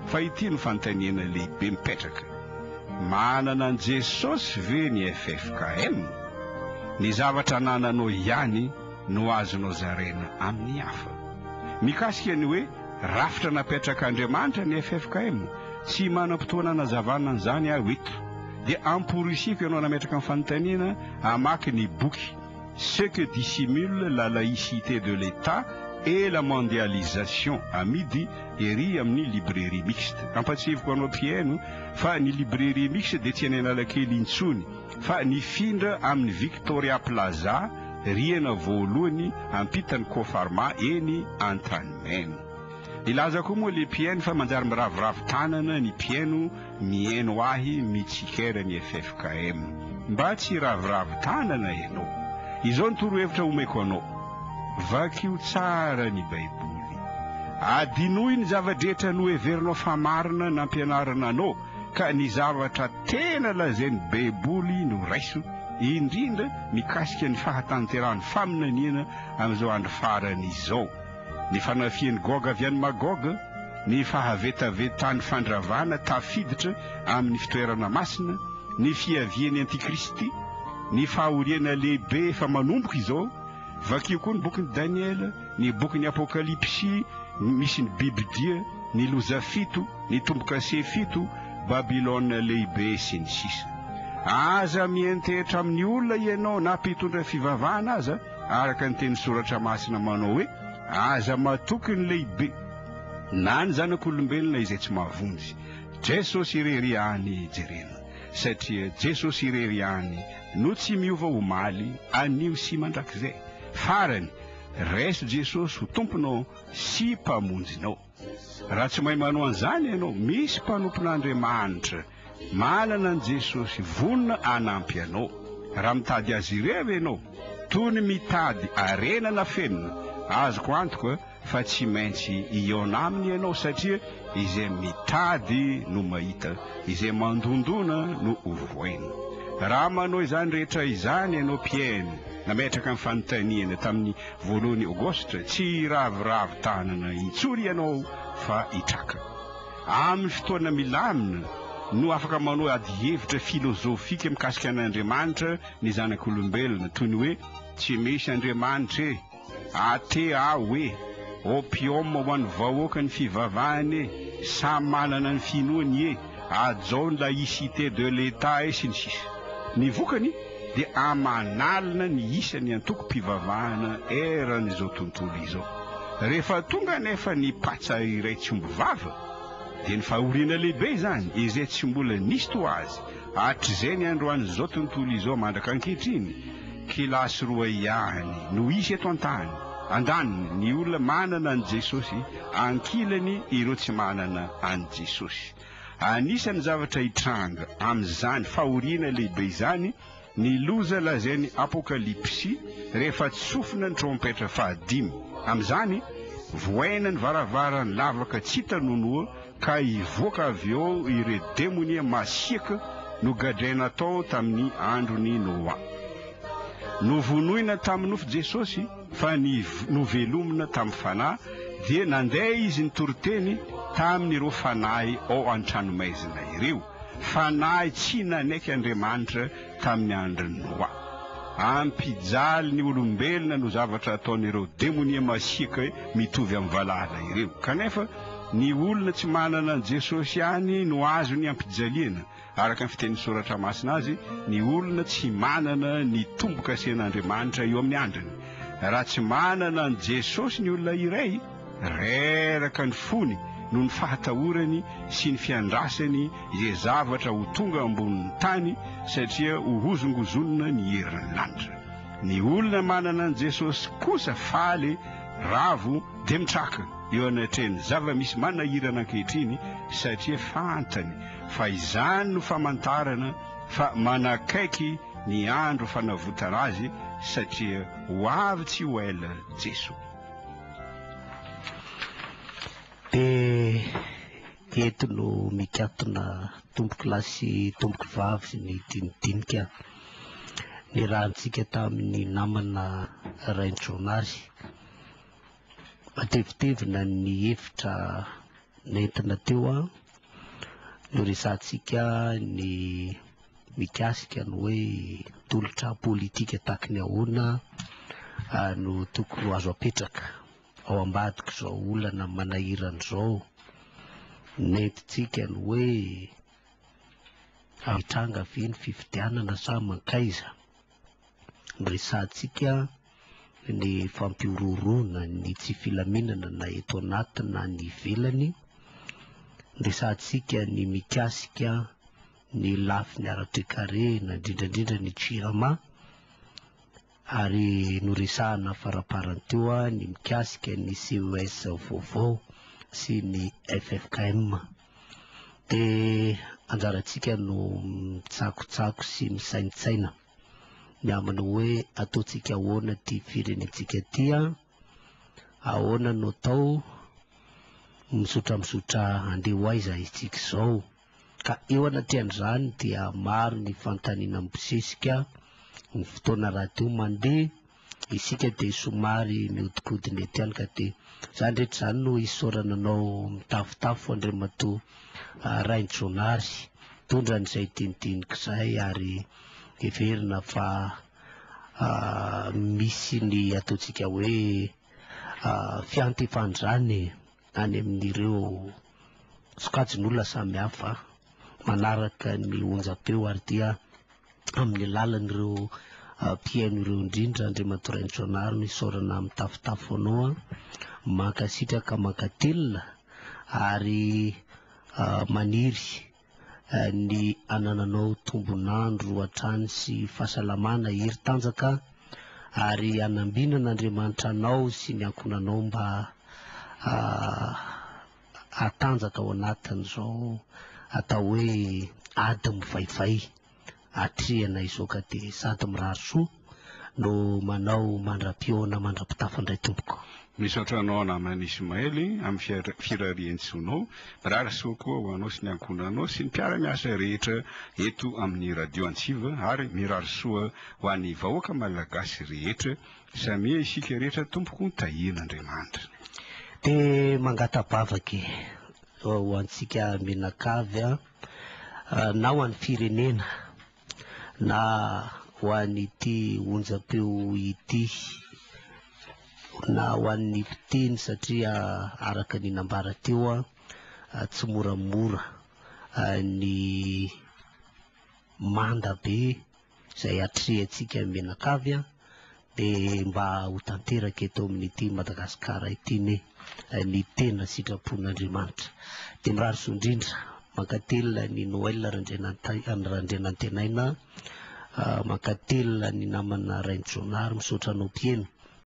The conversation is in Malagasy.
Fa ity no fanontaniana lehibe mipetraka, manana an'i Jesosy ve ny ffkm? Ny zavatra anananao ihany no azonao zaraina amin'ny hafa. Mikasika ny hoe rafitra napetrak'Andriamanitra ny ffkm, tsy manam-potoana anazavana an'izany aho eto. Dia amporisihiko ianao nametraka ny fanontaniana hamaky ny boky Ce que dissimule la laïcité de l'Etat et la mondialisation amidy ery amin'ny librairie mixte. Ampahatsiahiviko anao mpihaino fa ny librairie mixte dia tsy any Analakely intsony fa nifindra amin'ny Victoria Plaza, rihana voalohany ampitan'ny Cofarma eny Antanimena. Nilaza koa moa le mpihaino fa manjary miraviravy tanana ny mpihaino. Mihaino ahy mitsikera ny ffkm. Mba tsy hiraviravy tanana ianao. Izao ny torohevitra omeko anao. Vakio tsara ny baiboly. Adinoy ny zava-drehetra noheverinao fa marina nampianarina anao ka ny zavatra tena lazain'ny baiboly no raiso, indrindra mikasika ny fahatanterahan'ny faminaniana amin'izao andro farany izao. Ny fanafihan'i Goga avy any Magoga, ny fahavetavetan'ny fandravana tafiditra amin'ny fitoerana masina, ny fiavian'ny Antikristy, ny fahoriana lehibe efa manomboka izao. Vakio koa ny bokin'i Daniela, ny bokin'ny Apokalypsy misy ny bibidia, ny loza fito, ny tombo-kase fito, Babylona Lehibe, sy ny sisa. Aza miantehitra amin'ny olona ianao na mpitondra fivavahana aza Araka ny teny Soratra Masina manao hoe, Aza matoky ny lehibe, na ny zanak'olombelona izay tsy mahavonjy. Jesosy irery ihany jerena, satria Jesosy irery ihany no tsy miova omaly, anio sy mandrakizay. Farany, raiso Jesosy ho Tomponao sy Mpamonjinao. Raha tsy mahay manao an'izany ianao, misy mpanompon'Andriamanitra manana an'i Jesosy vonona hanampy anao. Raha mitady azy irery ianao, toy ny mitady harena nafenina, azoko antoka fa tsy maintsy hihaona aminy ianao, satria izay mitady no mahita, izay mandondona no ho voainy. Raha manao izany rehetra izany ianao, mpihaino, nametraka ny fanontaniana tamin'ny. Voalohan'ny Aogositra, tsy hiraviravy tanana intsony ianao fa hitraka. Amin'ny fotoana milamina no afaka manao adihevitra filozofika mikasika an'Andriamanitra ny zanak'olombelona, toy ny hoe, Tsy misy Andriamanitra e! Athée aho e! Opium ho an'ny vahoaka ny fivavahana e! Samy manana ny finoany e! hajao ny laïcité de l'Etat et sy ny sisa Ny vokany dia aman'alina ny isan'ny antokom-pivavahana eran'izao tontolo izao. Rehefa tonga anefa ny patsa iray tsy omby vava dia ny fahoriana lehibe izany izay tsy mbola nisy toa azy hatrizay ny androan'izao tontolo izao mandraka ankehitriny Kilasy roa ihany no hisy eto an-tany andaniny ny olona manana an'i Jesosy ankilany ireo tsy manana an'i Jesosy. Anisan'ny zavatra hitranga amin'izany fahoriana lehibe izany ny loza lazain'ny Apokalypsy rehefa tsofina ny trompetra fahadimy. Amin'izany, vohaina ny varavaran'ny lavaka tsy hita nonoa ka hivoaka avy ao ireo demonia masiaka nogadraina hatao tamin'ny andron'i Noa. Novonoina tamin'ny nofo Jesosy. Fa ny novelomina tamin'ny Fanahy, dia nandeha izy nitory teny tamin'ireo fanahy ao an-tranomaizina ireo, fanahy tsy nanaiky Andriamanitra tamin'ny andron'i Noa. Ampijaly ny olombelona no zavatra ataon'ireo demonia masiaka mitovy amin'ny valala ireo. Kanefa, ny olona tsy manana an'i Jesosy ihany no azon'ny ampijaliana. Araka ny fitenin'ny Soratra Masina azy, ny olona tsy manana ny tombo-kasen'Andriamanitra eo amin'ny andriny. Raha tsy manana an'i Jesosy ny olona iray, reraka ny fony noho ny fahatahorany sy ny fiandrasany izay zavatra ho tonga ambonin'ny tany satria hohozongozonina ny herin'ny lanitra. Ny olona manana an'i Jesosy kosa faly, ravo, dia mitraka eo anatrehan'ny zava-misy manahirana ankehitriny satria fantany fa izany no famantarana fa manakaiky ny andro fanavotana azy satria ho avy tsy ho ela Jeso. Dia eto no mikatona tompoko lahy sy tompoko vavy ny dinidinika nirahantsika tamin'ny namana Rainjonary. Matevitevina ny hevitra nentina teo an! Noresahantsika ny mikasika ny hoe tolotra politika tahaky ny ahoana no tokony ho azo apetraka ao ambadik'izao olana manahirana izao. Nentintsika ny hoe, hitranga ve ny fifidianana sa mankaiza? Resahantsika ny fampihorohoroana, ny tsy filaminana na eto anaty na any ivelany. Resahantsika ny mikasika ny lafiny ara-toekarena, indrindra indrindra ny Jirama. Ary noresahana faraparany teo ny mikasika ny CES vaovao sy ny ffkm. Dia anjarantsika no mitsakotsako sy misaintsaina ny amin'ny hoe ataontsika ahoana ity firenentsika ity an? Ahoana no atao? Mizotra mizotra handeha ho aiza isika izao? Ka eo anatrehan'izany dia maro ny fanontaniana mibosesika, ny fotoana rahateo mandeha isika dia somary mihodinkodina eto ihany ka dia izany rehetra izany no isaorana anao mitafotafo Andriamatoa Rainjonary mitondra an'izay dinidinika izay ary heverina fa misy ny ataontsika hoe fiantefan'izany e! any amin'ireo sokajin'olona samihafa manaraka ny onjam-peo ary dia amin'ny alalan'ireo mpihaino ireo indrindra Andriamatoa Rainitsoanaro no isaorana mitafotafo anao an, mankasitraka mankatelina ary maniry ny hanananao tombon'andro hatrany sy fahasalamana hery tanjaka ary hanambinana Andriamanitra anao sy ny ankohonanao mba hahatanjaka ao anatin'izao atao hoe ady mivaivay. atrehina izao ka dia sady mirary soa no manao mandra-pihaona mandra-pitafa indray tompoko. Misaotra anao namana Ismaël amin'ny firarian-tsoanao. Mirary soa koa ho anao sy ny ankohonanao sy ny mpiara-miasa rehetra eto amin'ny Radio Antsiva ary mirary soa ho an'ny vahoaka Malagasy rehetra. Samia isika rehetra tompoko tahian'Andriamanitra. Dia mangata-bavaka e ho antsika mianakavy a. na ho an'ny firenena na ho an'ity onjam-peo ity na ho an'ny mpiteny satria araka ny nambara teo tsy moramora ny manda be izay atrehantsika mianakavy an, dia mba ho tanteraka eto amin'ity Madagasikara ity ne ny tena sitrapon'Andriamanitra. Dia mirary soa indrindra, mankatelina ny Noël Randrianantenaina, mankatelina ny namana Rainijaonary, misaotra anao Mpieno.